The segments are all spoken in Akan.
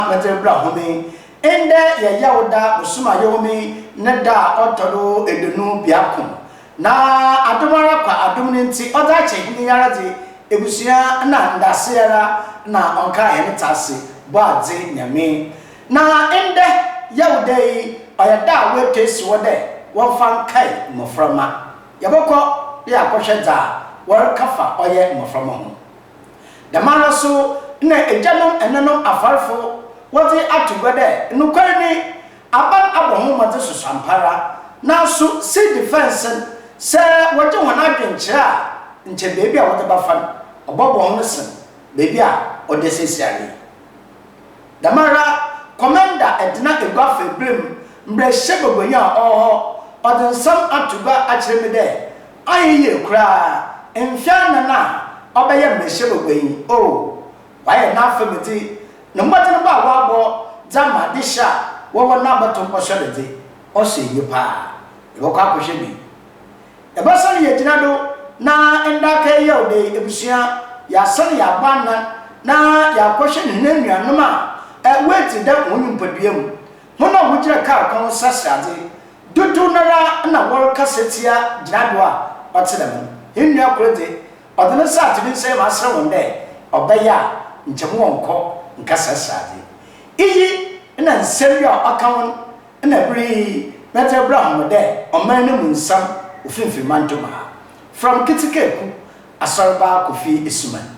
mɛtɛr bra home. Ndɛ yɛ Yawda bosoom a yehoome ne da a ɔtɔ do eduonu biako. Na adom ara kwa adom no ntsi ɔdze akyɛ hɛn yi ara dze, ebusua na ndaase ara na ɔnkaa hɛn tse ase bɔ adze Nyame. Na ndɛ Yawda yi ɔyɛ da a woetu esi hɔ dɛ wɔmfa nkae mboframba. Yɛbɔkɔ do akɔhwɛ dza wɔreka fa ɔyɛ mboframba ho. Dɛmara so na egyanom nnanom afarfo wɔdze ato gua dɛ nokwar nye aban abɔ ho mbɔdzen sosoampara. Naaso si defense no, sɛ wɔgye hɔn adwen kyerɛ a, nkyɛ beebi a wɔdze bɛfa no ɔbɔbɔ hɔn sen beebi a ɔda siesiara yi. Dɛmara Commander Edna Eguafa Ebirim mbrahyɛbagwanyi a ɔwɔ hɔ ɔdze nsɛm ato gua akyerɛ me dɛ Ayɛ yie koraa mfe anan a ɔbɛyɛ mmarahyɛbagua yi oh wayɛ n'afamdze no mbɔdzen bɔ a ɔabɔ dze ama adzehyɛ a wɔwɔ n'abɔto nkɔsɔ do dze ɔsɔ enyi paa. Yɛbɔkɔ akɔhwɛ bi. Yɛbɔsan yegyina do na nda akaa yi Yaw da yi ebusua yɛasan yɛabɔ anan na yɛakɔhwɛ hɛn enuanom a woedzidzi dɛm hɔn nyimpadua mu Hɔn a wogyina kaar kwan ho saseadze dodow noara na wɔrekasa tsia gyinabew a ɔtse dɛm no. Hɛn nua kor dze, ɔdze ne nsa ato me nsamu aserɛ hɔn dɛ, Ɔbɛyɛ a nkyɛ mowɔ nkɔ nka saseadze. Iyi na nsɛm bi a ɔka ho na ber yi medze rebra hom dɛ ɔman no mu nsɛm wɔ Finimfin Mantɔmu ha. Fram Ketsekaaku Asɔrba Kofi Asuman.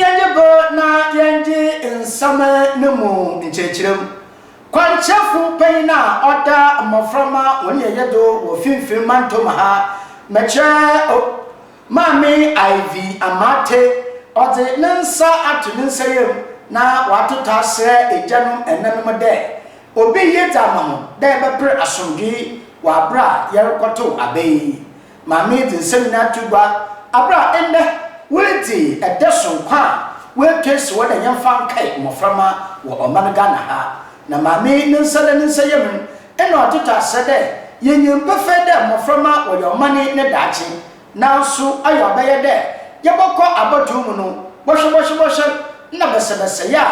Yɛgye bɔ na yɛngye nsɛm no mu nkyerɛkyerɛ mu. Kwankyerɛfo panyin a ɔda mmoframma wɔn yɛyɛ do wɔ Finimfin Mantam ha, Mekyerɛ O, Maame Ivy Amartey, ɔdze ne nsa ato ne nsayamu na ɔatoto aserɛ egyanom nnanom dɛ obi ye dze ama hɔn dɛ yɛbɛper asomdwee wɔ aber a yɛrokɔtow aba yi. ma meedze nsɛm nyina ato gua aber a ndɛ woedzi da soronko a woetu esi hɔ dɛ yɛmfa nkae mboframba wɔ ɔman Ghana ha. Na Maame ne nsa da ne nsayamu no, nna ɔtotɔ asɛ dɛ yenyim pefee dɛ mboframba wɔyɛ ɔman yi ne daakye. Naaso ayɛ ɔbɛyɛ dɛ yɛbɔkɔ abatow mu no, bɔhwɛbɔhwɛbɔhwɛ na bɛsɛbɛsɛe a,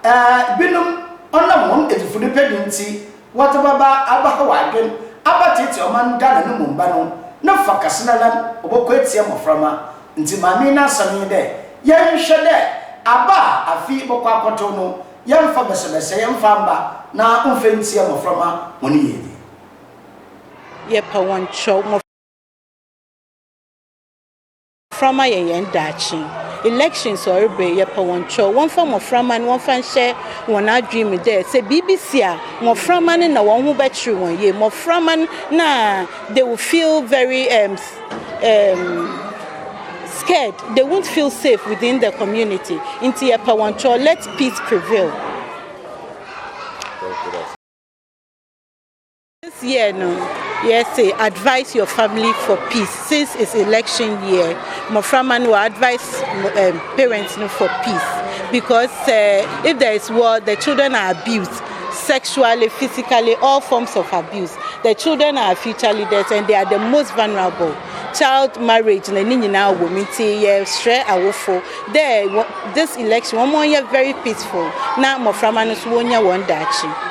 ɛɛ, binom ɔnam hɔn edzifudepɛ do ntsi, Wɔdze bɔba abɛhaw adwen, abɛtseetsee ɔman no dɛ anonom mba no, ne fa kɛse no ara no ɔbɔkɔ etsia mboframba. Ntsi maame yi n'asɛm nye dɛ, yɛnhwɛ dɛ aba a afe yi bɔkɔ akɔtow no, yɛmfa bɛsɛbɛsɛe mfa mba na ɔmfa ntsia mboframba hɔn yiedzi. Yɛpɛ hɔn kyɛw. Mmɔframma yɛ yɛn daakye. Elections ɔreba yi, yɛpɛ wɔn kyɛw. Wɔmfa mmɔframma no wɔmfa nhyɛ wɔn adwene mu dɛ sɛ biribi si a, mmɔframma no na wɔn ho bɛkyere wɔn yie. Mmɔframma no na they will feel very um, um, scared. They won't feel safe within the community. Nti yɛpɛ wɔn kyɛw. Let peace prevail. This year no, yɛse advise your family for peace since it's election year. Mmɔframma no wɔ advise um, parents no for peace because uh, if there is war, the children are abused sexually, physically, all forms of abuse. The children are future leaders and they are the most vulnerable. Child marriage na ne nyinaa wɔ mu nti yɛsrɛ awofo dɛ this election wɔn yɛ very peaceful na mmɔframma no nso wɔnya wɔn daakye.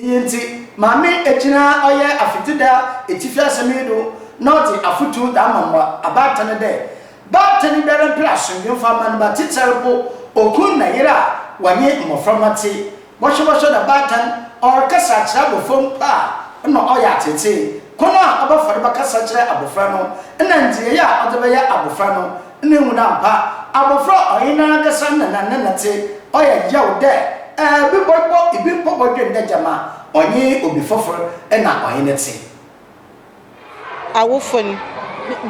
Iyi ntsi, Maame Egyina ɔyɛ Afetsida etsifi asɛm yi do na ɔdze afotu dze ama mba abaatan dɛ, Baatan biara mper asomdwee mfa mma no ba, tsitsir mpo okun na yer a wɔnye mboframba tse bɔhwɛbɔhwɛ na baatan ɔrekasa akyerɛ abofra mpo a nna ɔyɛ atseetsee. Kwan a ɔbɛfa do bɛkasa akyerɛ abofra no na ndzeyɛe a ɔdze bɛyɛ abofra no Nna ehu no ammpa abofra a ɔnye narankasa nna na ne nã tse. Ɔyɛ yaw dɛ bi bɔbɔ bi mpo bɔdwen dɛ gyama ɔnye obi fofor na ɔnye no tse. Awofo no,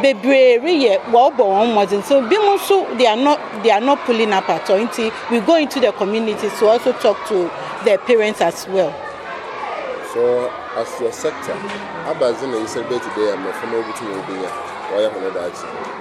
beberee reyɛ, wɔrobɔ hɔn mbɔdzen, so binom so they are not they are not pulling up at all, ntsi we go into the community to also talk to the parents as well. So as your sector, abandze na nyinsɛn bɛtse dɛ mbofra ma wobotum woebenya wɔayɛ hɔn daakye?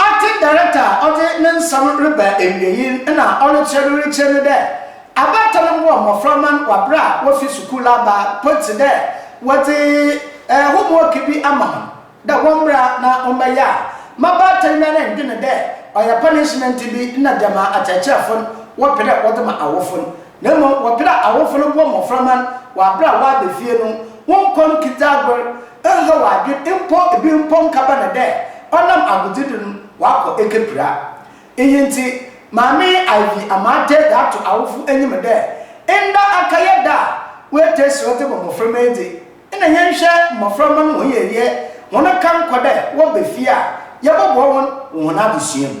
Acting director a ɔdze ne nsɛm reba ewiei no na ɔrekyerɛ no rekyerɛ no dɛ, Abaatan no bɔɔ mbofra man wɔ aber a wofi skuul aba mpo tse dɛ wɔdze homework bi ama hɔn dɛ wɔmbra na wɔmbɛyɛ a, m'abaatan no ara nndwen dɛ ɔyɛ punishment bi na gyama akyerɛkyerɛfo no wɔpɛ dɛ wɔdze ma awofo no. Na mmom wɔpere a awofo no bɔ mmofra ma wɔ bere a wɔaba fie no, wɔnnkɔ no kitsaagor, nnhaw adwen, mpo bi mpo nnkaba no dɛ ɔnam agodzi do no ɔakɔ ekepira. Iyi ntsi, Maame Ivy ama ataa dze ato awofo enyim dɛ, Nda akɛyɛ da a woetaa si hɔ dze bɔ mboframba edzi. Nna yɛnnhwɛ mboframba no hɔn yieyɛ, hɔn kankɔ dɛ wɔba fie a, yɛbɔboa hɔn wɔ hɔn adzesua mu.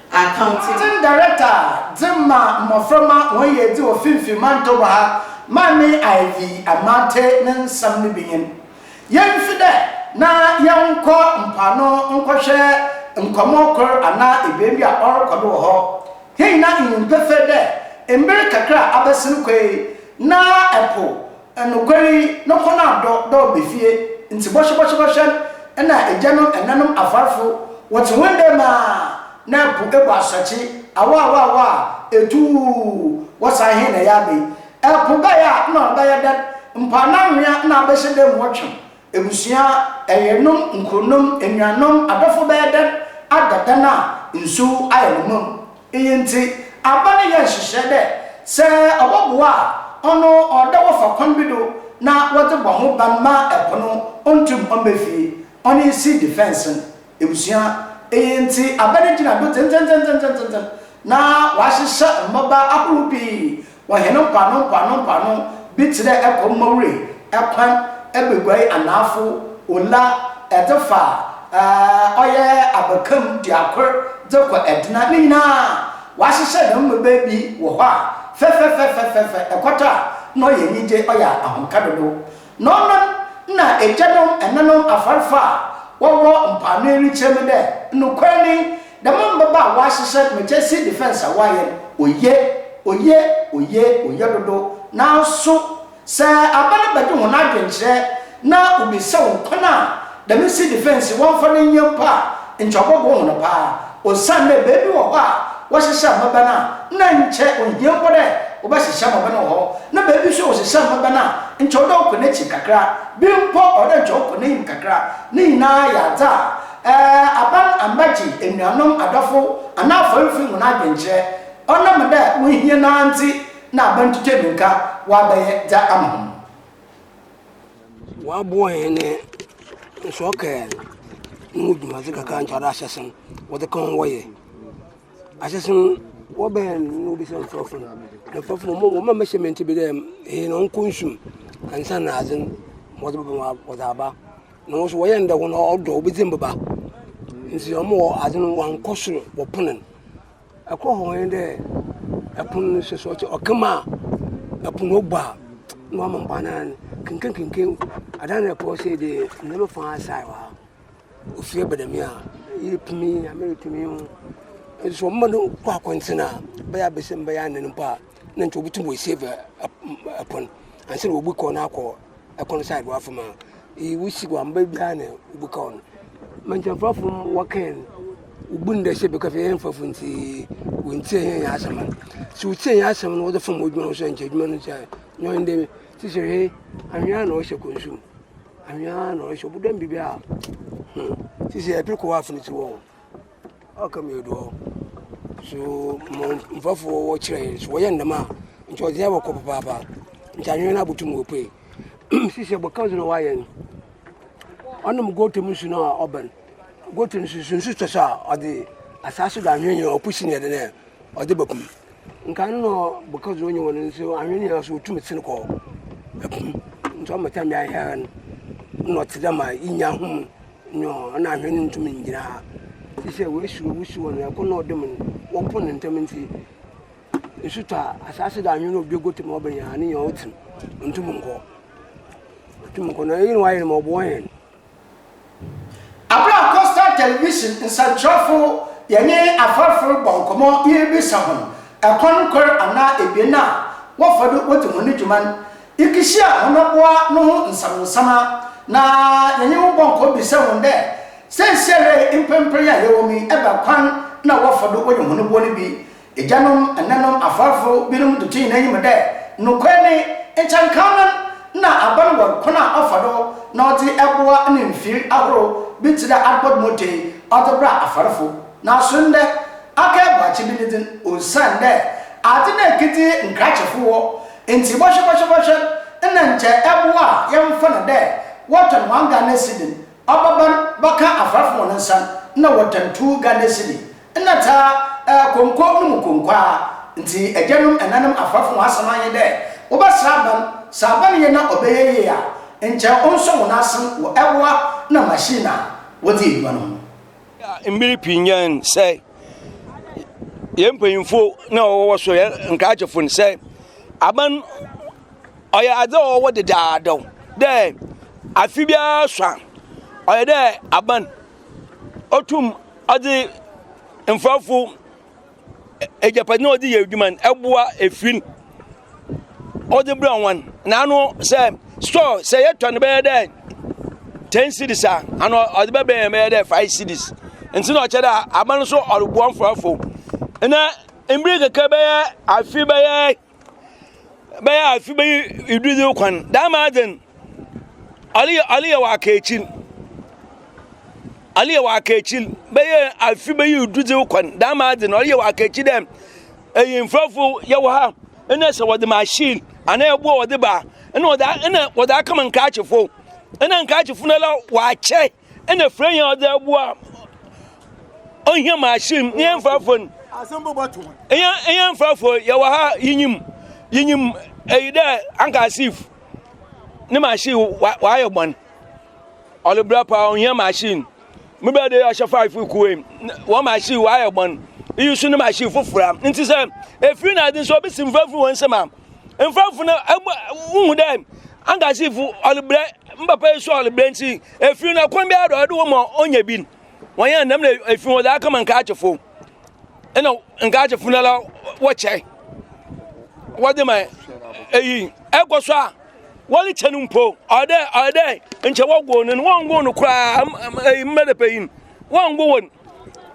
Accounting Director dze ma mboframba hɔn yiedzi wɔ Finfi Mantoba ha, Maame Ivy Amartey ne nsɛm no bi nye no. Yemmfi dɛ na yɛnnkɔ mpoano nkɔhwɛ nkɔmbɔ kor anaa ebien bi a ɔrokɔ do wɔ hɔ. Hɛn nyina nyim pefee dɛ mber kakra a abɛsen kɔ yi, na po Nokwar yi, no kɔn adɔ dɛ ɔba fie, ntsi bɔhwɛbɔhwɛbɔhwɛ nna egyanom, enãnom, afarfo wɔtse hɔn dɛ mu a, na po ebu asɔkye, awɔawɔawɔ a, etuuw, wɔsan hɛn na yɛaba yi. Po bɛyɛ a, nna ɔbɛyɛ dɛn? Mpoano anhwea na abɛhyɛ dɛ mu ɔtweɔn, Ebusua, ɛyenom, nkuronom, enuanom, adɔfo bɛyɛ dɛn ada dan a nsu ayɛ no mã mu? Iyi ntsi, aban no yɛɛ nhyehyɛɛ dɛ sɛ ɔbɔboa a, ɔno ɔwɔ dɛ wɔfa kwan bi do na wɔdze bɔ ho ban ma po no onntum mmba fie, ɔnye seed fence no. Ebusua, iyi ntsi aber no gyina do dzendzenndzendzendzen na wɔahyehyɛ mbɔba ahorow pii wɔ hɛn mpoano mpoano mpoano, bi tse dɛ Ɛkɔ Mowry, Ɛkwan, Ɛbeguai Anaafo, Ula, Ɛdze fa ɔyɛ Abakam Duakor dze kɔ Ɛdena, ne nyina wɔahyehyɛ dɛm mbɔba bi wɔ hɔ a fɛfɛfɛfɛfɛfɛ, ekɔtɔ a nna ɔyɛ enyigye, ɔyɛ ahomka dodow. Na ɔno na egyanom ɛnanom afarfo a wɔwɔ mpoano yi rekyerɛ me dɛ nokwar nye dɛm mbaba a wɔahyehyɛ no mekyɛ sea defence a wɔayɛ no oye, oye, oye, oye dodow. Naaso sɛ aban bɛgye hɔn adwenkyerɛ na wobisa hɔn kwan a Dɛm nsi defence yi wɔmmfa no nyɛ mpo a nkyɛ ɔbɔboa hɔn paa osiandɛ beebi wɔ hɔ a wɔhyehyɛ mbɛbɛ no a nna nkyɛ onnhia mpo dɛ wɔbɛhyehyɛ mbɛbɛ no wɔ hɔ na beebi so a wɔhyehyɛ mbɛbɛ no a nkyɛ ɔwɔ dɛ ɔkɔ n'ekyir kakra, bi mpo ɔwɔ dɛ nkyɛ ɔkɔ n'enyim kakra. Ne nyinara yɛ adze a ɛɛ aban ambɛgye enuanom, adɔfo anaa afɔrfo hɔn adwenkyerɛ. Ɔnam dɛ wonnhia no ara ntsi na aban twitwa mirika wɔabɛyɛ dza ama hɔn. Wɔaboa hɛn nsorɔ kaar no mu dwumadze kakra a nkyɛ ɔdze ahyɛsen wɔdze ka ho wɔyɛ. Ahyɛsen no wɔba hɛn no na wobisa nkorɔfo no, na nkorɔfo no wɔma wɔma measurement bi dɛ eyi no nkɔ nsu mu ansaana adze no wɔdze bɛba mu wɔdze aba. Na hɔn so wɔyɛ no dɛ hɔn ɔdɔ wobedzi mboba ntsi wɔma adze no wɔannkɔ sor wɔpon no. Ɛkɔ hɔ nye dɛ ɛpon no hwɛ sɛ ɔtse ɔka mu a pon no bɔ a na ɔama mboa no anan kenkenkenken adan no ɛkɔ sɛ dɛ ndɛ me fa asae hɔ a ofir aba dɛm a iyi pem yi Nyame ripem yi ho nso ɔma no kɔ akɔntsen a bɛyɛ abasiam bɛyɛ anan mpo a na nkyɛ obotum oesave pon ansaana obi kɔ no akɔ. kwan side wa fam a iyi wo si wamba biara na obu ka hɔn. Mantsan fafo mu wɔ kɛn no wobu no dɛ sɛ beka fie hɛn fafo ntsi won tsie hɛn hɛn asɛm a. Sɛ wo tsie hɛn asɛm no wɔdze fam edwuma no so a nkyɛ edwuma no tsia nyɛ ɔnye dɛ sisi he anhwea na ɔhyɛ kɔnsu mu anhwea na ɔhyɛ ɔbɔdɔm biribi a hmm sisi yɛ preko wɔ afon tsi wɔ. Ɔka mi do hɔ. So mo mfɛfo wɔ kyerɛ yɛn so wɔyɛ ndɛm a nkyɛ ɔdze yɛn abɔkɔ papaapa. Nkyɛ anhwɛ no abotum opue. Sisi a bɔkã dze na ɔayɛ no. Ɔnom gota mu nsu no a ɔbɛn. Gota no so so nsu tɔ so a ɔdze asaase do anhwe nye ɔpo si no yɛ dɛn dɛ ɔdze bɛpo mu. Nka no na bɔkã dze ɔnye hɔn nso anhwe no nyina so otum sen kɔ po mu. Nkyɛ ɔma tam biara hɛn no nna ɔtse dɛ ma inya hom. No, na ahwɛ no ntumi ngyina ha, efisɛ woesuro wusiw hɔ no, ɛko na ɔdom no, wɔpo no ntsɛm ntsi, nsu tɔ a, asaase do anwen a obi egutu ma ɔbenya a, no nyina otsim, onntum nnkɔ, otum nkɔ no, iyi na ɔayɛ no ma ɔboa hɛn. Aber a Coastal Television nsɛnkyerɛwfo yɛnye afɔrfo robɔ nkɔmbɔ na yeribisa hɔn kwan kor anaa ebien a wɔfa do wodzi hɔn dwuma no, Yekehyiaa hɔn abowa no ho nsamansaman na yɛnye hɔn bɔɔ nkɔmbɔ bisaa hɔn dɛ, Seseiara yi mprɛmprɛ yi a yɛwɔ mu yi, ebɛn kwan na wɔfa do wɔyɛ hɔn boɔ no bi? Egyanom, ɛnɛnom, afarfo binom dze too hɛn enyim dɛ, Nokwar nye, nkyɛnkannan na aban wɔ kwan a ɔfa do na ɔdze boa ne mfir ahorow bi tse dɛ adbɔd moto yi ɔdze bra afarfo. Naaso ndɛ, aka eboakye bi ne dzin osiandɛ adze na ekedzi nkrakyefo wɔ Ntsi bɔhwɛbɔhwɛbɔhwɛ nna nkyɛ ɛboa a yɛmmfa no dɛ wɔtɔn one Ghana cedi ɔbaban bɛkã afarfo hɔn nsa no nna wɔtɔn two Ghana cedi nna tsaa ɛɛ konko no mu konko ara ntsi egyanom enanom afarfo hɔn asɛm annyɛ dɛ wɔbɛsera aban sɛ aban yɛ na ɔbɛyɛ yie a nkyɛ ɔnnsɔ hɔn asen wɔ ɛboa na machine a wɔdze edwuma no ho. Mber pii nyɛe no sɛ yɛn mpanyimfo na wɔwɔ so yɛ nkrakyefo no sɛ aban ɔyɛ adze a ɔwɔ dedaadaw dɛ afe biara so a ɔyɛ dɛ aban otum ɔdze mfɛfo. agyapade no a ɔde yɛ adwuma no ɛboa efiri no ɔde brɛ wɔn na ano sɛ store sɛ yɛtɔ no bɛyɛ dɛ ten cities a ano ɔde bɛbɛ yɛn bɛyɛ dɛ five cities nti na ɔkyɛ dɛ aba no so ɔreboa mforɔfo na mmiri kɛkɛ bɛyɛ afi bɛyɛ bɛyɛ afe bɛyi edu dze kwan dɛm ama adze no ale aleyɛ wɔ aka ekyir aleyɛ wɔ aka ekyir bɛyɛ afe bɛyi edu dze kwan dɛm ama adze no ɔyɛ wɔ aka ekyir dɛ eyimfɛrɛfo yɛwɔ ha nna sɛ wɔdze mahyin anaa ɛboɔ wɔdze ba nna wɔdze a nna wɔdze akɛma nkaakyefo nna nkaakyefo nala wɔakyɛ. ɛna fira yɛn ɔdze aboa ɔhia ma ahyɛ mu yɛn mfrafo no yɛn mfrafo yɛwɔ ha yinyim yinyim ɛyi dɛ anka asif ne ma ahyɛ wayɛ bɔn ɔde bra paa ɔhia ma ahyɛ mu me bɛ de ɔhyɛ five kuwe wɔn ma ahyɛ wayɛ bɔn iyi so ne ma ahyɛ fofora nti sɛ efiri na adi nso obi si mfrafo wɔn nsɛm a mfrafo no ɛbɔ wohu dɛ anka asif ɔde brɛ mbapa yi so ɔde brɛ nti. Efiri na kwan biara dɔ ɔde wɔn ma ɔnyɛ bi wɔn yɛn nam na efiri wɔn dza aka ma nkaakyefo ɛna nkaakyefo na la wɔkyɛ wɔde ma eyi ɛkɔ so a wɔde kyɛ no mpo ɔdɛ ɔdɛ nkyɛ wɔgo no wɔn go no koraa eyi mmɛdɛ panyin wɔn go wɔn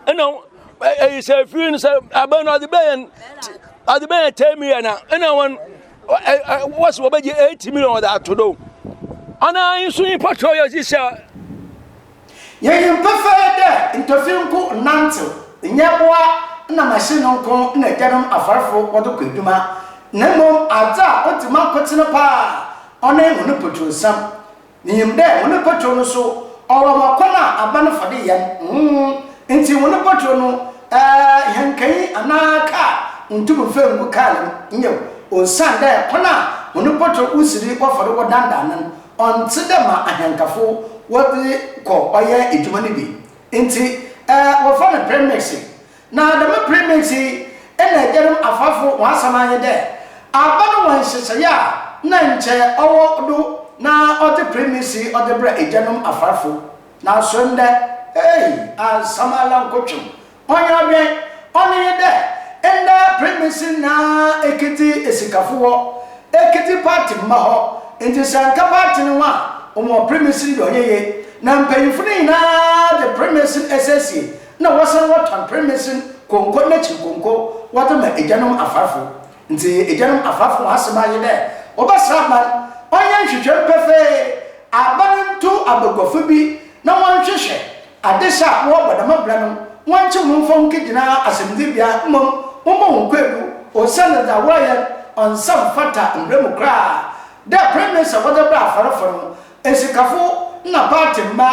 ɛna eyi sɛ efiri no sɛ abɛn no ɔde bɛyɛ ɔde bɛyɛ tɛmi yɛ na ɛna wɔn. wɔsi wɔbɛgye eight million wɔde ato do anaa nso nyimpa kyerɛ yɛ dzi sɛ Yɛnyim pefee dɛ ntɔfi nko nnantsew, nyɛboa na machine nko na egyanom afarfo wɔdze kɔ edwuma, na mbom adze a odzi mankotsen paa a, ɔnye hɔn potursɛm. Minyim dɛ hɔn mpotwɛw no so ɔwɔ ma kwan a aban no fa do yɛ nhuhu ntsi hɔn mpotwɛw no hɛnkanyi anaa kaar nntum mmfa nngu kaar no mu, nyew, osiandɛ kwan a hɔn mpotwɛw wosi do wɔfa do wɔdandan no no ɔnntse dɛ ma ahɛnkafo wɔdze kɔ ɔyɛ edwuma no bi ntsi wɔfrɛ no premix Na dɛm ber mesi yi na egyanom afaafo hɔn asɛm ara nye dɛ, aaba no wɔ nhyehyɛɛ a nna nkyɛ ɔwɔ do na ɔdze ber mesi ɔdze brɛ egyanom afaafo. Naaso ndɛ, ei, asɛm ara nkotwew. Ɔnnyɛ ɔdwen. Ɔno nye dɛ, ndɛ ber mesi na ekedzi esikafo hɔ, ekedzi party mba hɔ, ntsi sɛ nnkã party no ho a, wɔwɔ ber mesi no dɛ ɔnnyɛ yie. Na mpanyimfo no nyina dze ber mesi no esiesie na wɔsan wɔtɔ mpremnsen kɔnkɔ na ekyir kɔnkɔ wɔdze ma egyanom afarfo. Ntsi egyanom afarfo hɔn asɛm ara nye dɛ wɔbɛsɛ aban, ɔnyɛ nhwehwɛmu pefee, aaba no nto abaguafo bi na wɔnhwehwɛ adesɛ a wɔwɔ wɔ dɛm aber no, wɔnkye hɔn mfa hɔn nkegyina asɛmdzibea mbom wɔmbɔ hɔn kwaadu osiandɛ dza wɔreyɛ no ɔnnsa mmfata mbra mu koraa dɛ premnsen a wɔdze brɛ afarfo no Esikafo na party mba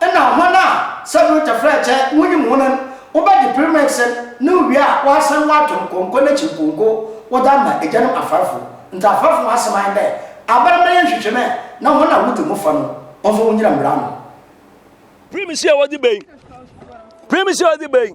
na hɔn a sɛ do tɛfrɛɛkyɛ wonyim hɔn n' wobɛgye Premix n' no wie a wɔasan wɔato no kɔnkɔ n'ekyir pɔnkɔ wɔdze ama egyanom afarfo. Ntsi afarfo hɔn asɛm aye dɛ aber mbrɛ yɛnnhwehwɛ mɛ na hɔn a wodzi ho fɔ no wɔmfa wongyina mbra ano. Premix a wɔdze bae Premix a wɔdze bae.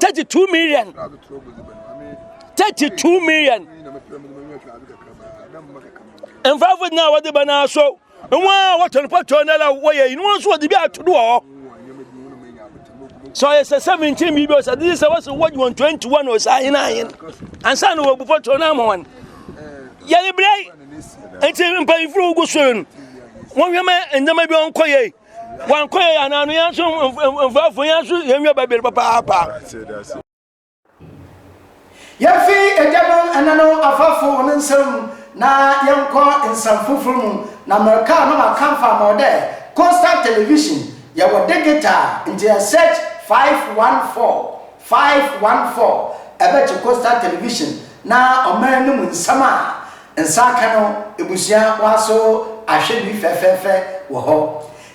thirty two million thirty two million mfrafo nyinaa wɔde bɛ naa so nwa a wɔtɔn pɔtɔ na la wɔyɛ inu nso wɔde bi ato do wɔ sɛ ɔyɛ sɛ seventeen biribi ɔsɛ de sɛ wɔsɛ wɔgye wɔn twenty one ɔsɛ ahen ahen ansa na wɔbu pɔtɔ na ama wɔn yɛde brɛ nti mpanyinfo wogu so no wɔhwɛ ma nneɛma bi ɔnkɔ yɛ Wɔn kɔ yɛ anaa no yɛn nso mfrafo yɛn nso yɛn nwa bɛbere papaapa. Yɛmfi agyanom ɛnanom afafo wɔn nsɛm na yɛnkɔ nsɛm foforɔ mu na mmerɛka a na maka mfa ma ɔdɛ coastal television yɛwɔ digital nti yɛ search 514 514 ɛbɛkye coastal television na ɔman no mu nsɛm a Nsa aka no ebusua w'aso ahwɛ bi fɛfɛɛfɛ wɔ hɔ.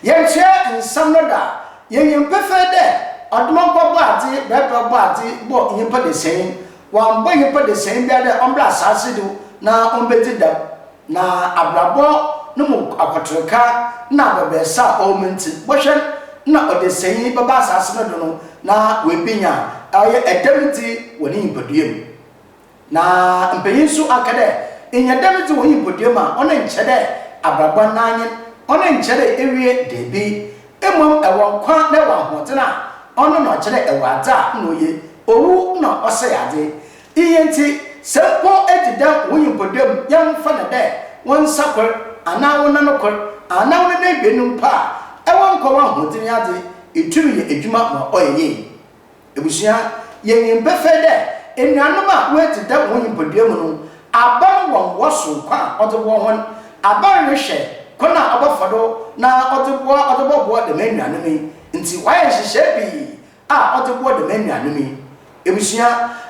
Yɛnkyerɛ nsɛm no da, yenyim pefee dɛ Ɔdomampa Bɔadze brɛbrɛw Bɔadze bɔ nyimpa dasɛn, ɔammbɔ nyimpa dasɛn biara dɛ ɔmbra asaase do na ombedzi dɛm, na abrabɔ no mu akɔtorka na abɛbrɛsɛ a ɔwɔ mu ntsi, bɔhwɛ na ɔdasɛnyi bɛba asaase no do no na oebenya ɔyɛ dɛm dzi wɔ ne nyimpadua mu. Na mpanyin so akã dɛ, Nnyɛ dɛm dze wɔ nyimpadua mu a, ɔno nnkyerɛ dɛ abrabɔ anan nye no, ɔno nnkyerɛ dɛ ewie, dabi, mbom ewɔ nkwa na ewɔ ahoɔdzen a, ɔno na ɔkyerɛ dɛ ewɔ adze a nna oye, owu na ɔsɛɛ adze. Iyi ntsi, sɛ mpo edzi dɛm wo nyimpadua mu, yɛmfa no dɛ wo nsa kor, anaa wo nan kor, anaa wo nan ebien no mpo a, ewɔ nkwa w'ahoɔdzen yɛ adze, itum yɛ edwuma ma ɔyɛ yie. Ebusua, yenyim pefee dɛ enuanom a woedzi dɛm wɔ nyimpadua mu no, aber wɔ mboa soronko a ɔdze boa hɔn. Aber rohwɛ kwan a ɔbɔfa do na ɔdze boa ɔdze bɔboa dɛm enuanom yi ntsi, ɔayɛ nhyehyɛɛ pii a ɔdze boa dɛm enuanom yi. Ebusua,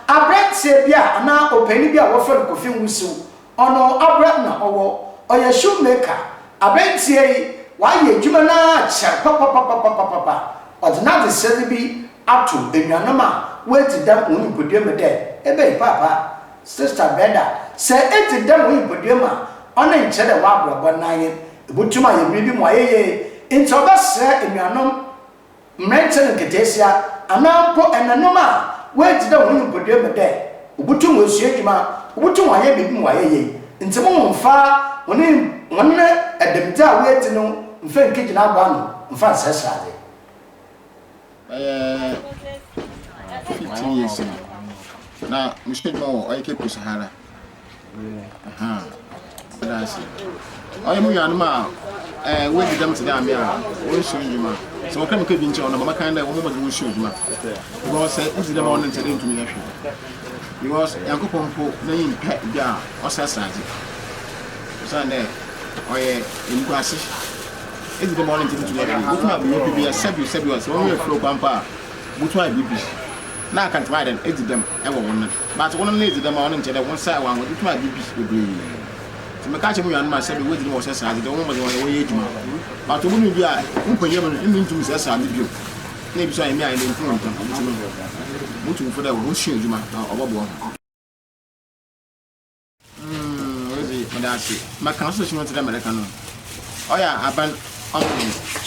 aberantsɛ bi a anaa opanyin bi a wɔfrɛ no Kofi Nwusiw Ɔno abra na ɔwɔ. Ɔyɛ shoe maker. Abɛntsira yi, ɔayɛ edwuma no ara akyɛr papapapapapapa. Ɔdze n'adzesrɛ no bi ato enuanom a woedzi dɛm hɔn nyimpadua mu dɛ, Ebɛn paapa, sista Breda, sɛ edzi dɛm wo nyimpadua mu a, ɔno nnkyerɛ dɛ w'abrabɔ no n'anyen. Ibotum ayɛ biribi ma ɔayɛ yie. Ntsi ɔbɛserɛ enuanom. Mberantsɛ no nketseesia, anaa mpo enannom a woedzi dɛ hɔn nyimpadua mu dɛ wobotum woesua edwuma, wobotum wɔayɛ biribi ma wɔayɛ yie. Ntsi mo mmfa hɔn hɔn dɛm dze a woedzi no mmfa nnkegyina abow ano mmfa nnserɛserɛ adze. Bɛyɛ fifteen years ni, na mehyɛ edwuma wɔ ɔyɛ Cape Coast ha ara. ɔyɛ mo nuanom a eh, wɔadi dɛm te dɛ ame a wɔnsua ndwuma sɛ wɔkra meka bi nkyɛ wɔn na mama kan dɛ wɔn mmɔden wɔn sua ndwuma because sɛ wodi dɛm a wɔn nkyɛ dɛ ntumi yɛ hwɛ because yankopɔn mpo n'enyi mpɛ bi a ɔsɛ asaadze ɔsan dɛ ɔyɛ nkuase edi dɛm a wɔn nkyɛ ntumi yɛ hwɛ wotumi abɛyɛ obi bi yɛ sɛbi sɛbi ɔsɛ wɔn yɛ furo kwan pa a Botum ayɛ biribi na anka ntsi ɔayɛ dɛn edzi dɛm wɔ wo nan, but wo nan edzi dɛm a ɔno nnkyerɛ dɛ wo nsa wɔ ahoɔdzen tum ayɛ biribi beberee. Ntsi meka kyerɛ mo nuanom a sɛ bi woedzi dɛm a wɔhyɛ sradze dɛ wɔmbɔ mbɔdzen wɔyɛ wɔnyɛ edwuma, but obu no bi a wo mpanyimfo no nnyi nntum nnsɛ sradze bio, na ebi so a emi a emi mpo nntum, ntsi no mutu mo fo dɛ honsua edwuma na ɔbɔboa hɔn. Mm, Rosie, meda ase. Maka no so hyɛ mɛte dɛ mɛreka no. Ɔyɛ aban ɔmo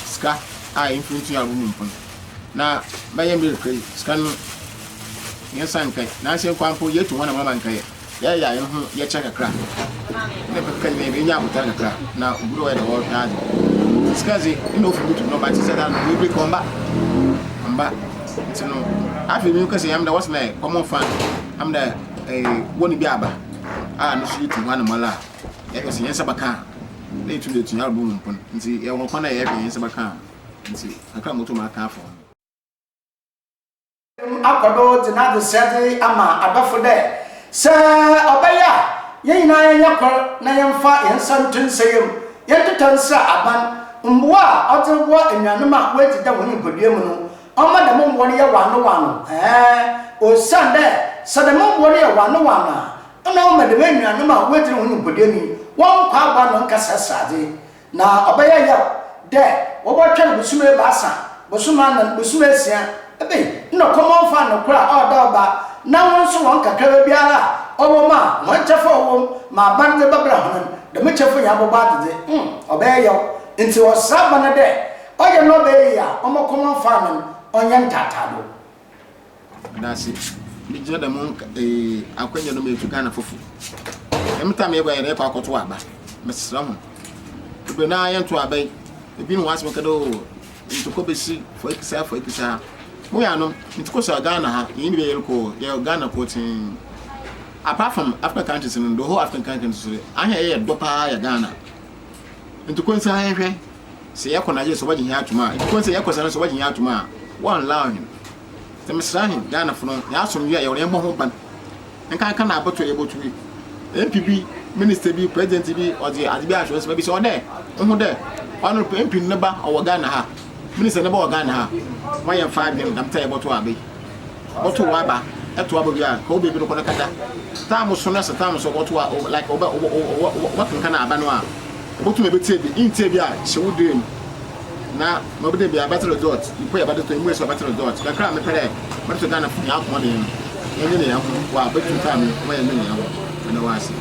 sika a mfiri ntua ɔmo mu mpon. Na bɛyɛ mbiri kra yi, sika no yɛn nsa nkɛ. Na ase nkwa mpo yɛtu hɔ na mama nkɛ yɛ. Yɛyɛ a yɛn ho yɛkyɛ kakra. Ne kakra nyina yɛbɛ nya abotare kakra. Na obi dɛ ɔyɛ dɛ ɔhwɛ adze. Sika dze, nna ofi butu no ɔba te sɛ dan no, ebire kɔ ɔmba. Ɔmba. Nti no, afei mi kɛsɛ yɛm dɛ wɔsɛ dɛ ɔmo fa, ɔmo dɛ. eh, wɔ ne bi aba a ne so yɛ tu hɔ anamala a, yɛhwɛ sɛ yɛn nsa bɛka a, na yɛtu de atua albo mu mpon. Nti yɛwɔ kwan a yɛhwɛ yɛn nsa bɛka a, nti kakra a motom aka afa ho no. akɔ do dze n'adzesua dze ama adɔfo dɛ, Sɛ ɔbɛyɛ a, hɛn nyina yɛnyɛ kor na yɛmfa hɛn nsa nto nsa yamu, yɛntetɛ nsera aban, mbowa a ɔdze roboa enuanom a woedzi dɛw hɔn nyimpadua mu no, Ɔma dɛm mbowa no yɛ wɔanowɔano, ɛɛn, osiandɛ sɛ dɛm mbowa no yɛ wɔanowɔano a, nna ɔma dɛm enuanom a woedzidzi no hɔn nyimpadua mu yi hɔn nkwa aboano nnkɛsɛɛ seradze, na ɔbɛyɛ yaw dɛ wɔbɔtweɔn bosoom ebiasa, bosoom anan, bosoom esia, ebɛn, nna ɔkɔm ɔmmfaa nokwar a ɔɔda ɔba na hɔn so hɔn kakraba biara a ɔwɔ mu a hɔn kyɛfa a ɔwɔ mu ma aban dze bɛbra hɔn no, dɛm kyɛfa nyina bɔbɔ adzedze, mm, ɔbɛyɛ yaw, ntsi ɔsera aban no dɛ Ɔyɛ nnɔbaɛ yi a ɔmɔ kɔm anfaa me no, ɔnyɛ ntaataado. Meda ase megyina dɛm akwanya no mu efi Ghana fofo. Dɛm tam yɛkɔ yɛde kɔ akɔto aba. Mesrɛ ho. Bebree no ara yɛnto aba yi. Ebi ne ho asɛm kɛdɛ o ntokɔ besi fɔ ekisa fɔ ekisa. Mo yɛ anom ntokɔ sa Ghana ha yɛn nyinaa yɛn kɔ yɛ Ghana kɔ tee. Apart from African countries no the whole African countries so ahɛ yɛ dɔ paa yɛ Ghana. Ntokɔ nsa ahɛhwɛ. Sɛ yɛkɔ na gyesɛ wɔgye hɛn atom a, mpo sɛ yɛkɔ sɛ no so wɔgye hɛn atom a, wɔnnlaw hɛn. Ntsi meserɛ hɛn Ghanafo no, hɛn asomdwee a yɛwɔ no yɛmbɔ ho ban. Nkanka na abotow a yebotu yi, MP bi, minister bi, president bi, ɔdze adze bi ato hɔ, mebisa wo dɛ, Woho dɛ ɔno MP no ne ba ɔwɔ Ghana ha, minister ne ba wɔ Ghana ha, ma yɛmfa adwen na mbrɛ yɛbɔtow aber yi. Bɔto wo aba to aba bi a ka wo baabi no kɔ no kata tam so na sɛ tam so bɔto a like ɔbɛ ɔbɛ kankan aba no a bɔto na bɛtie bi ntie bi a hyɛ wo dee mu na ma bɛdɛ bi a bɛte resort nipa yɛ bɛde to emu ɛsɛ bɛte resort kakra a mepɛ dɛ mɛde to Ghana fo yɛ akoma den no ɛnyɛ ne yɛn ho wɔ a bɛtu tam no wɔyɛ ne yɛn ho ɛna wɔ ase.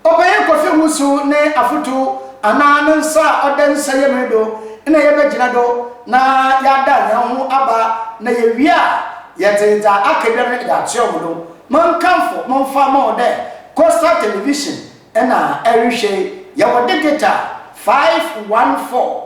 Ɔpanyin Kofi Wusu ne afotu anaa ne nsa a ɔda nsɛyɛm yi do na yɛbɛgyina do na yɛada hɛnho aba na yewie a yɛdze dza akɛdua no dze atoa hɔn do. Monkamfo momfa mma hɔn dɛ Coastal Television na ɛrehwɛ yi. Yɛwɔ digital 514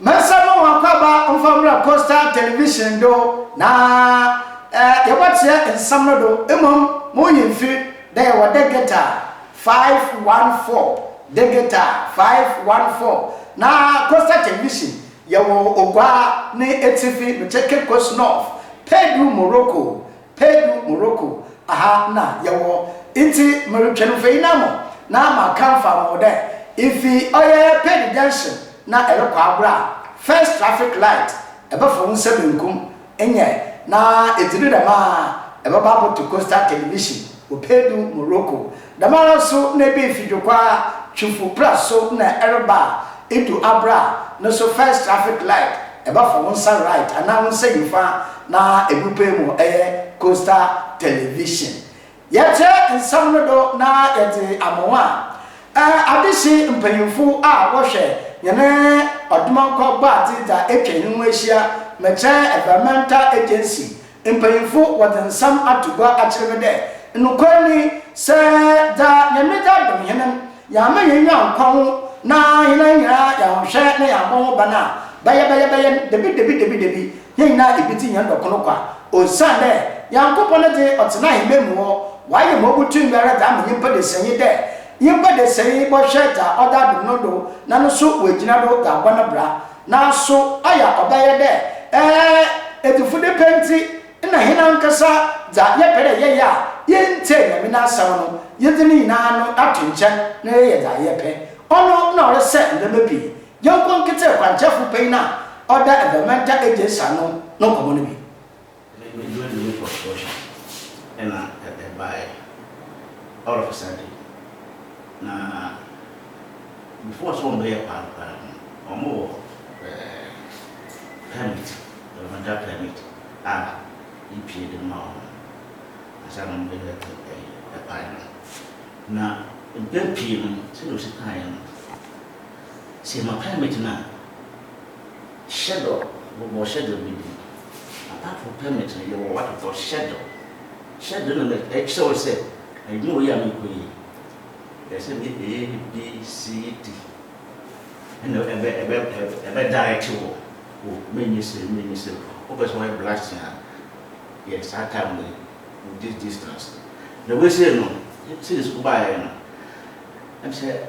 Mɛsɛ mo wɔakwaba ɔmfa mbra Coastal Television do na yɛbɔtseɛ nsɛm no do, mbom mo nyimfi dɛ yɛwɔ Degeta 514, Degeta 514, na Coastal Television yɛwɔ Oguaa ne etsifi, mekyɛ Cape Coast North, Paidu, Morocco. Peidu, Morocco, ha na yɛwɔ, ntsi meretwɛn mfei no ama na maakã mfaa mo ho dɛ ifi ɔyɛ Peidu junction na erokɔ agor a, first traffic light, ebɛfa wo nsa benkum, nnyɛ, na edzi do dɛm a, ebɛba abɔto Coastal Television. Opedu Morocco. Dɛmara nso na ebɛn fidwokwaa Twifo pra so na ɛreba a, edu aber a, no so first traffic light, ɛbɛfa wo nsa right anaa wo nsa nyifa na ebupe mu ɛyɛ Costa Television. Yɛkyerɛ nsɛm no do na yɛdze ama wo a, eh, adehye mpanyimfo a wɔhwɛ hɛn Ɔdomankwa Bɔadze dza etwa hɛnho ehyia, Mekya Environmental Agency, Mpanyimfo wɔdze nsɛm ato gua akyerɛ me dɛ, nokwar nye yi, sɛ dza Nyame dze adom hɛn no, yɛamma hɛn enyiwa annkɔ ho na hɛn ara nyina yɛannhwɛ na yɛammbɔ ho ban a, bɛyɛbɛyɛbɛyɛ no, dabidabidabidabid, hɛn nyina ibedzi hɛn dɔ kor kwa. Osiandɛ Nyankopɔn dze, ɔtsena ahemban mu hɔ, ɔayɛ ma obotum biara dze ama nyimpa desɛɛ nye dɛ, nyimpa desɛɛ yi bɔhwɛ dza ɔdze adom no do na no so oegyina do dze abɔ no bra. Naaso ɔyɛ a ɔbɛyɛ dɛ edufudze pɛ ntsi na hɛn ankasa dza yɛpɛ dɛ yɛyɛ a yenntsie Nyame n'asɛm no, yɛdze ne nyina no ato nkyɛn na yɛyɛ dza yɛpɛ. Ɔno na ɔresɛɛ ndzɛmba pii. Yɛnkɔ nketsee kwankyerɛfo panyin a ɔda Evamantan Egyesa ano no nkɔmbɔ no bi. Ná me dwumadi no kɔ so hwɛ. Ɛnna ɛbae all of a sudden, na before sɛ wɔbɛyɛ paano koraa no, wɔwɔ permit, governmental permit a yepue de ma wɔn ansa na wɔde bɛto ɛkwan no. Na mpɛn pii no, sɛnea osi kae no, sɛ yɛma permit no a, Hyɛdɔ bobɔ hyɛdɔ bi di. Apart from permit no yɛwɔ wɔatotɔ hyɛdɔ. Hyɛdɔ no na ɛkyerɛ wo sɛ adwuma wei a merekɔ yi ɛyɛ sɛ meyɛ A, B, C, D. Ɛna ɛbɛ ɛbɛ ɛbɛ direct wo o menyɛ sei menyɛ sei. Wopɛ sɛ wɔyɛ blasting a yɛ saa time wei with this distance. Na wei sei no since wobaeɛ no ɛm sɛ.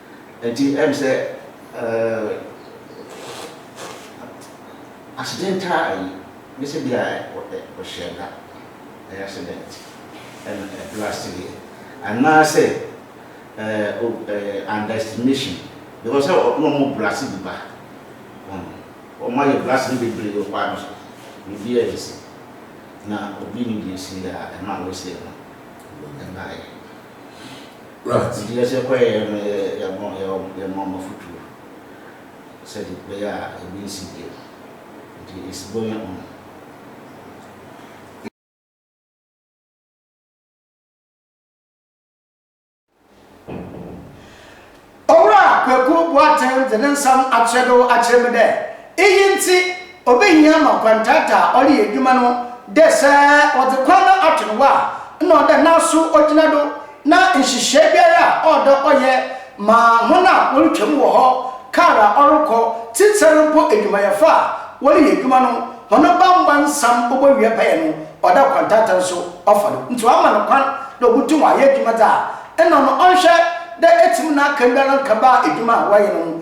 Enti ɛm sɛ accident a ayi ne sɛ bia ɔhyɛɛ da ɛyɛ accident ɛna ɛblast yɛ anaasɛ underestimation because sɛ na ɔmo blast bi ba ɔmo ayɛ blast no bebree wɔ kwan no so biribi a ɛsi na obi nim deɛ ɛsi a ɛma wɛsɛ no ɛbaeɛ. Bere a Tiberias kɔeɛ no, yɛmaa wɔn afotuo sɛdeɛ ɛbɛyɛ a ebi rensi bio. Enti esi bɔ yɛn ho. Owura Kweku Boateng dze ne nsɛm akyerɛbew akyerɛ me dɛ iyi ntsi, Obehia ma kwantata a ɔreyɛ edwuma no dɛ sɛ wɔdze kwan no ato no hɔ a, nna ɔwɔ dɛ n'aso gyina do na nhyehyɛɛ biara a ɔwɔ dɛ ɔyɛ ma hɔn a worutwa mu wɔ hɔ, kaar a ɔrokɔ, tsitsir mpo edwumayɛfo a wɔreyɛ edwuma no hɔn bambɔ nsɛm obowie pɛyɛ no, ɔwɔ dɛ kwantata so ɔfa do. Ntsi ɔama no kwan dɛ obotum ɔayɛ edwuma dze a nna no ɔnnhwɛ dɛ etsim na akan biara nnkɛba edwuma a wɔreyɛ no ho.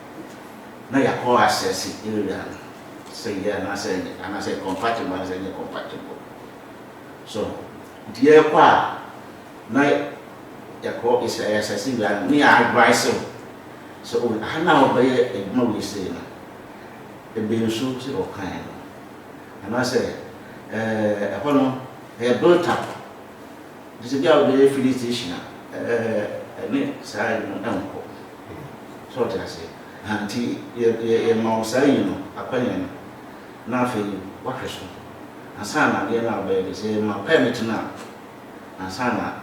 na yɛakɔ assess area no sɛ eye anaasɛ ɛnyɛ anaasɛ ɛyɛ compatible anaasɛ ɛnyɛ compatible. So nti yɛrekɔ a na yɛkɔ yɛ assess area no ne yɛ advice wo sɛ o ha no a wobɛyɛ adwuma wei sei no ebe nso sɛ wɔkae no anaasɛ ɛɛ ɛhɔ no ɛyɛ built up. Ɛfiri sɛ ebia wobɛyɛ filling station a, ɛne saa yi no nkɔ. So wote aseɛ? Aha, nti yɛ, yɛ, yɛma wo saa yi no, akwanya no, na afei woahwɛ so. Ansa na adeɛ no a wobɛyɛ deɛ, sɛ yɛma permit no a, ansa na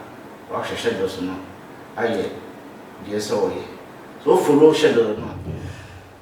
woahwɛ schedules no ayɛ deɛ ɛsɛ sɛ woyɛ. So wo follow schedule no a.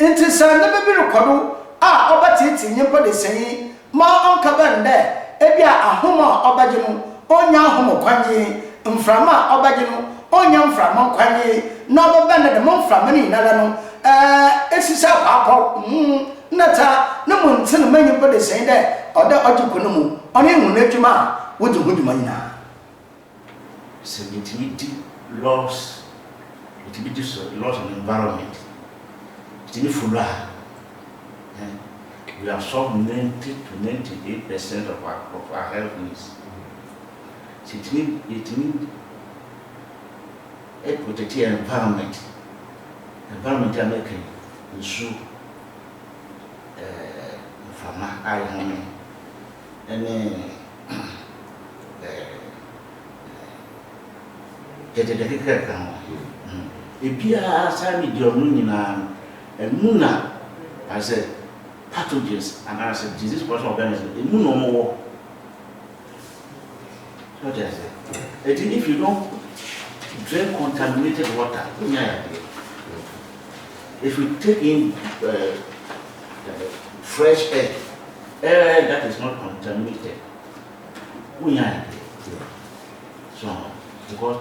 Ntsi sɛ ndzɛmba bi rokɔ do a ɔbɛtseetsee nyimpa desã yi ma ɔnnkɛbɛn dɛ bi a ahom a ɔbɛgye no onnya ahom nkwagye, mframa a ɔbɛgye no onnya mframa nkwagye, na ɔbɛbɛn dɛ dɛm mframa no nyinara no esi sɛ kwaakwaw, huhuw, nnɛtsa, no mu nntsen ma nyimpa desã yi dɛ ɔwɔ dɛ ɔgye kɔ no mu, ɔno nye hɔn edwuma a wodzi ho dwuma nyina. Sɛ metumi di laws, metumi di so laws and environment, metumi follow a, eh, we have solved ninety to ninety eight percent of our of our health needs. Sɛ etumi yɛtumi eh, protect yɛn environment, environment a mɛka yi, nsuo, eh, mframa a yɛhome, ne gyɛgyɛgyɛ kekere ka ho. Ebiara saa ne deɛ ɔno nyinaa no, ɛmu na ayɛ sɛ pathogens anaasɛ disease production organism, ɛmu na wɔwɔ. So ɔte aseɛ? Ɛti if you don't drink contaminated water, wonya yadeɛ. If you take in uh, Fresh air, air that is not contaminated, wonya no deɛ, so aho, because.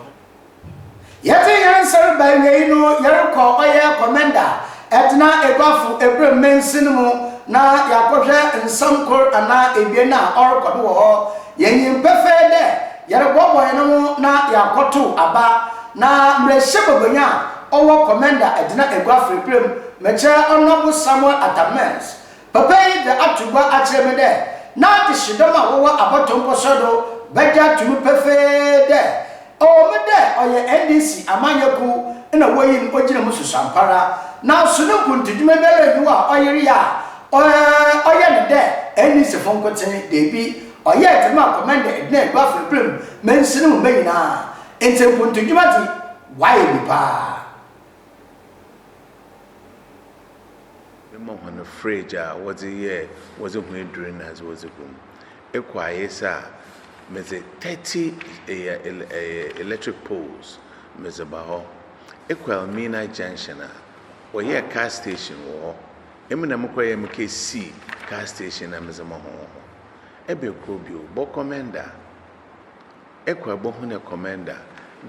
Yɛte yɛn nsa reba awiei no, yɛrekɔ ɔyɛ kɔmɛnda a ɛtena aguafo April mansin mu na yɛakɔhwɛ nsɛm kor anaa ebien a ɔrokɔ do wɔ hɔ. Yenyim pefee dɛ yɛrobɔbɔ hɛnho na yɛakɔtow aba, na mbrahyɛbagbanyi a ɔwɔ Kɔmɛnda Adzena Egua Afreperɛ mu, mekyerɛ Honourable Samuel Atta Mills, papa yi dze ato gua akyerɛ me dɛ n'adzehyedɔm a wɔwɔ abɔto mposɔr do bɛgye ato mu pefee dɛ, Ɔwɔ mu dɛ ɔyɛ NDC amanyɛ kuw na woyii no ogyina mu susuampara, naaso no nkuntudwuma biara nnyi hɔ a ɔyer yɛ a ɔyɛ no dɛ NDCfo nkotsee, dabi, ɔyɛɛ dze maa Komenda Edna Adu Afekpre mu ma nsi no mu mba nyina, ntsi nkuntudwuma dze ɔayɛ bi paa. Mema hɔn fridge a wɔdze yɛɛ wɔdze hue dur na adze wɔdze gu mu. Kwaes a, medze thirty electric poles medze ba hɔ. Ekɔ Elmina junction a, wɔyɛɛ car station wɔ hɔ. Emi na mokɔyɛɛ me kar sii car station na medze ma hɔn wɔ hɔ. Ebɛn kor bio? Bɔkɔmɛnda. Ekɔ a bohu dɛ kɔmɛnda,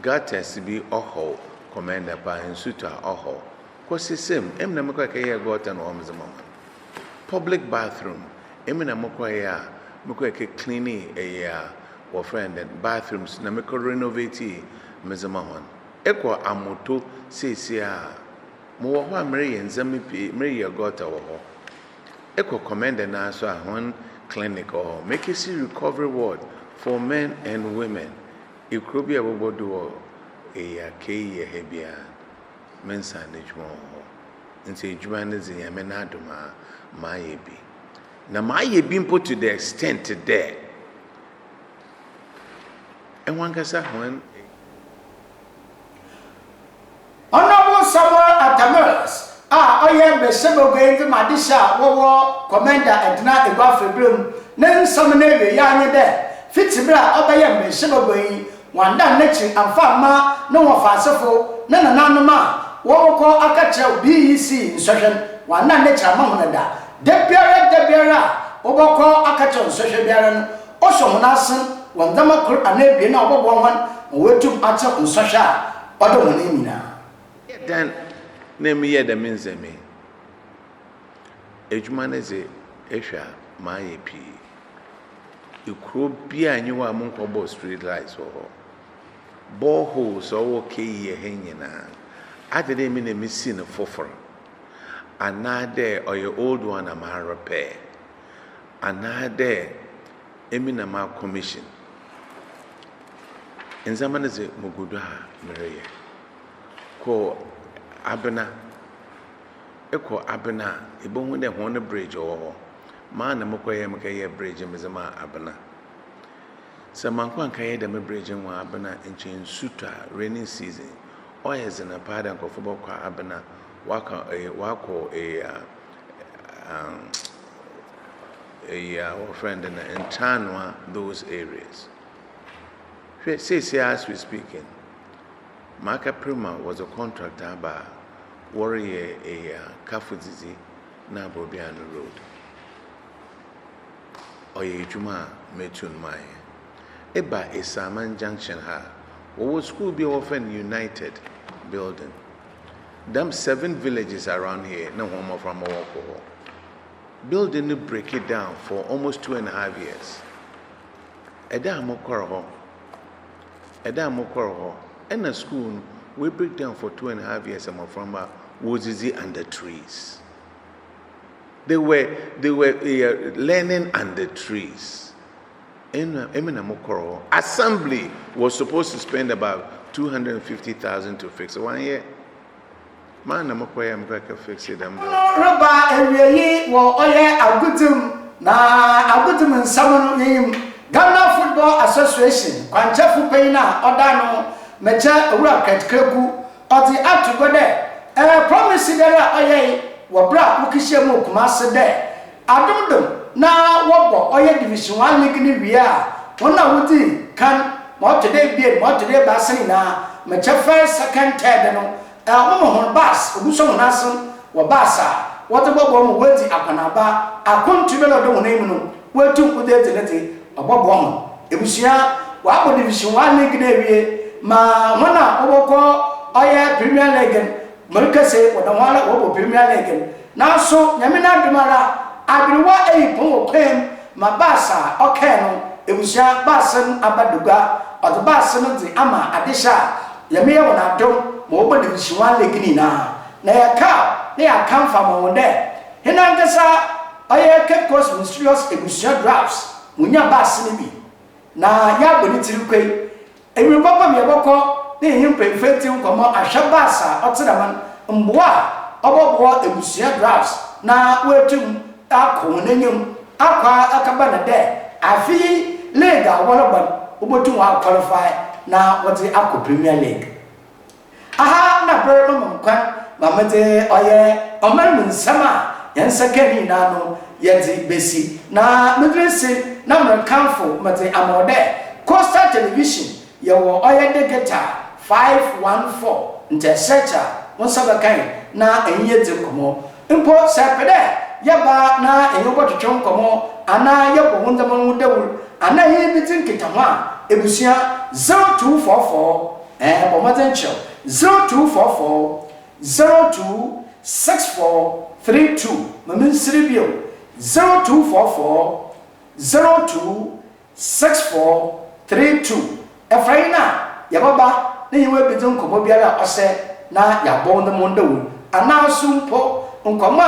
gutters bi ɔhaw kɔmɛnda paa, nsu tɔ a ɔhaw. Kɔ Sesem, emi na mekɔr kɛyɛɛ gutter no wɔ hɔ medze ma hɔn. Public bathroom. Emi na mokɔ yɛ a mekɔ ekɛ cleanee ɛyɛ a wɔfrɛ no dɛn bathrooms na mekɔ renovateee medze ma hɔn. Ekɔ Amoto seseiara a mowɔ hɔ a mereyɛ ndzɛmba pii mereyɛ gutter wɔ hɔ. Ekɔ Kɔmɛndɛ no ara so a hɔn clinic wɔ hɔ. Mekesi recovery ward for men and women. Ekurow bi a ebɔbɔ do wɔ eyi a kei yɛ ha biara. mensan n'edwuma wɔ hɔ. Ntsi edwuma no dze, Nyame n'adom a, mayɛ bi. Na mayɛ bi mpo to the extent dɛ hɔnankasa hɔn. Honourable Samuel Atta Mills a ɔyɛ Mberahyɛbagua yi dze ma adehye a wɔwɔ Kɔmɛnda Edna Egua Faberemu ne nsɛm no ewiei ara nye dɛ, fitsi ber a ɔbɛyɛɛ Mberahyɛbagua yi, Wɔannan n'akyiri amfa amma ne wɔfaasefo, ne nananom a wɔbɔkɔ aka kyerɛ wo BEC nsɔhwɛ no, wɔannan n'akyiri amma hɔn da. Da biara da biara a wɔbɔkɔ aka kyerɛ wo nsɔhwɛ biara no, ɔsɔ hɔn asen wɔ ndzɛmba kor anaa ebien a ɔbɔboa hɔn ma woetum atsew nsɔhwɛ a ɔda hɔn enyim nyina. Eyɛ dɛn na emi yɛɛ dɛm ndzɛmba yi? Edwuma no dze, ehwɛ a, mayɛ pii. Ekurow biara nnyi hɔ a monnkɔbɔɔ street light wɔ hɔ. Bore holes a ɔwɔ KE ha nyinaa, adze dɛ emi na misi no fofor? Anaadɛ ɔyɛ old one na marepɛɛ? Anaadɛ emi na m'akɔmehyin? Ndzɛmba no dze mugu do a mereyɛ. Kɔ Abena. ekɔ Abena a, ibohu dɛ hɔn bridge ɔwɔ hɔ. Maa na mokɔyɛe, mekɛyɛɛ bridge no medze maa Abena. Sɛ mannkɔ annkɛyɛ dɛm bridge no wɔ Abena a, nkyɛ nsu tɔ a, raining season, ɔyɛ dzen paa dɛ nkorɔfo bɔkɔ Abena wɔakɔ wɔakɔ wɔfrɛ no dɛn a, Nkyanoa those areas. Hwɛ, seseiara as we speaking. M'akɛper ma wɔdze contract aba a wɔreyɛ eyi a Kafo Dzidzi na Abobiano Road. Ɔyɛ edwuma a metu no mayɛ. Eba Esiaman Junction ha a, wɔwɔ skuul bi a wɔfrɛ no United Building. Dɛm seven villages around here na hɔn mboframba wɔkɔ hɔ. Building no breaki down for almost two and a half years. Da a mokɔr hɔ. da a mokɔr hɔ na skuul no we break down for two and a half years mboframba wodzidzi under trees they were they were eh, learning under trees ɛna ɛmi na mo kɔrɔ hɔ assembly was supposed to spend about two hundred and fifty thousand to fix it wɔn yɛ. M'an na mokɔyɛ mbrɛ kɛ fekse dɛm mbrɛ. No reba ewiei wɔ ɔyɛ agodzi mu na agodzi mu nsɛm no yenyim. Ghana Football Association kwankyɛfo panyin a ɔda ano, Mɛkyɛ Owura Kurt Kweku, ɔdze ato gua dɛ, Promise biara a ɔyɛe wɔ ber a wokehyia mu wɔ Kumase dɛ, Adomdom na wɔbɔ ɔyɛ Division One league no wie a, hɔn a wodzi kan ma ɔtɔ do ebien ma ɔtɔ do ebiasa no nyina mɛkyɛ first, second, third no wɔma hɔn bus, obi sɔ hɔn asen wɔ bus a wɔdze bɔboa ma woedzi akɔnaaba akɔnto biara a ɔda hɔn enyim no woetum wodze edzi ne dze ɔbɔboa hɔn ebusua. Wɔabɔ Division One league no ewie ma hɔn a wɔbɔkɔ ɔyɛ Premier league no. Mereka sɛ wɔda hɔ ara wɔbɔ birim na lɛɛgɛm. Nanso Nyame n'adom ara aberewa ayi pɔn wɔ kwan mu ma bus a ɔkae no abusua bus no aba bagua. Ɔde bus no de ama adehyɛ a Nyame yɛ wɔn adom ma wɔbɔ division one league no nyinaa. Na yɛkaw na yɛakamfo ama wɔn dɛ hena ankasa ɔyɛ Cape Coast Mysterious abusua Drafts munya bus no bi na yɛabɔ ne tiri kwei Ewimbir papa mu yɛbɔkɔ ne Henye Mpemfentu nkɔmbɔ ahwɛ bus a ɔtsena hɔn, mboa a ɔbɔboa ebusua drafts na woeetum akɔ hɔn enyim akɔ akɛba na dɛ afe yi league a wɔrobɔ no wobotum wɔaqualify na wɔdze akɔ Premier League. Aha na ber ma mo nkwa ma medze ɔyɛ ɔman mu nsɛm a hɛn nsa kã ne nyina no yɛdze besi, na medzi ase na merekamfo medze ama wo dɛ Coastal Television yɛwɔ ɔyɛ digital 514 ntsɛsrɛkyɛ a wo nsa bɛkã hɛn na enye yedzi nkɔmbɔ. Mpo sɛ epɛ dɛ yɛba na enye wo bɔtwetwe nkɔmbɔ anaa yɛbɔ wo ndzɛmba ho dawur anaa enye bedzi nkitaho a, ebusua 0244 Ɛɛ, bɔ mmɔden kyerɛw. Zero two four four zero two six four three two. Ma minsiri bio. Zero two four four zero two six four three two. Ɛfra yi na yɛbɛba na yɛn abedzi nkɔmmɔ biara a ɔsɛ na yɛabɔw no mo dawur, anaaso mpo nkɔmmɔ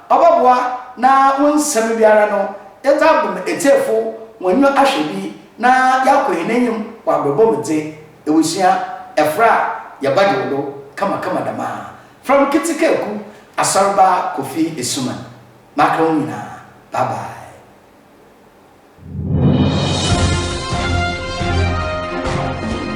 a ɔbɔboa na wo nsɛm biara no yɛdze abɔ ma etsiefo hɔn enyiwa ahwɛ bi. Na yɛakɔ hɛn enyim wɔ abrabɔ mu dze, ewusua, efora a yɛbɛgyew do kamakama dɛm a, fram ketsekaaku, Asɔrba Kofi Asuman. Makra hom nyina, bye bye.